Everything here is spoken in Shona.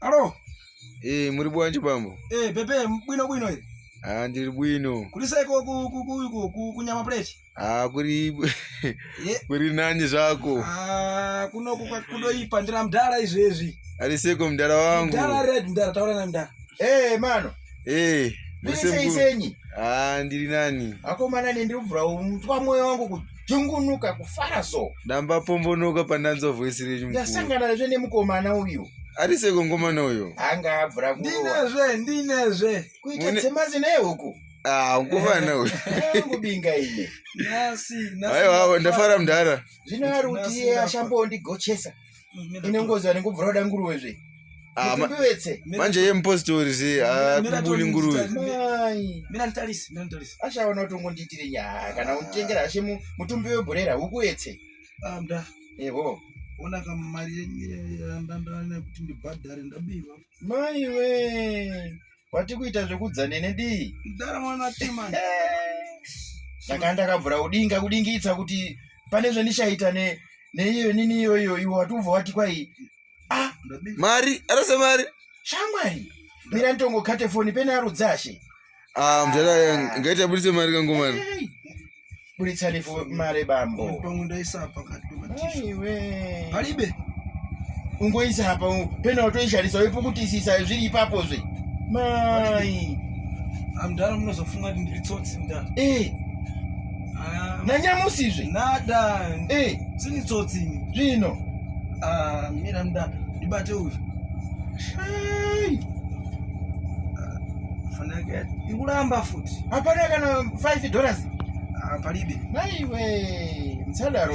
Alo. Eh, muri bwanji bambo? Eh, pepe bwino bwino iri. Ah, ndiri bwino. Kuri sai ko ku ku ku ku kunyama plate? Ah, kuri eh. kuri nani zvako? Ah, kuno ku kudo ipa ndira mdara izvi izvi. Ari seko mdara wangu. Mdara red mdara taura na mdara. Eh, mano. Eh, muri sei senyi? Ah, ndiri nani? Akomana nendiri kubvura mutwa moyo wangu kuti dzungunuka kufara so damba pombonoka pandanzwa voice renyu ndasangana zve nemukomana uyu ari seko ngomana uyo anga abvura ndinezve ndinezve kuita dzemazi naye huku ah, nguvana uyo kubinga ine aiwa ndafara mudhara zvino ari kuti iye ashambondigochesa ine ngozi vanenge kubvura kuda nguruve zve ah, manje ye mupositori se akubuni ah, nguruve ashaona kuti ungondiitire nyaya kana ah. utengera ashe mutumbi webhurera ukuetse eho ona kama mari yenyu yandandana kuti ndibhadhare ndabirwa maiwe Wati kuita zvekudza nene dii? Mdara mwana tima. Ndakanda kabvura kudinga kudingitsa kuti pane zvandichaita ne neiyo nini iyoyo iwe wati ubva wati kwai ah mari arasa mari shamwari mira nditongokate foni pene arudzashe ah mdara ngaita budise mari kangomana hey. buritsa lefu mare bambo pangu ndaisa apa katiwe palibe ungoisa apa pena watoisharisa wepo kutisisa zviri ipapo zve mai amdara munozofunga kuti ndiri tsotsi nda eh ah. nanyamusi zve nada eh sini tsotsi zvino ah mira mda ndibate uyu shai ah, fanake ikuramba futi Hapana kana 5 dollars. Ah, palibe. Naiwe, msadaro.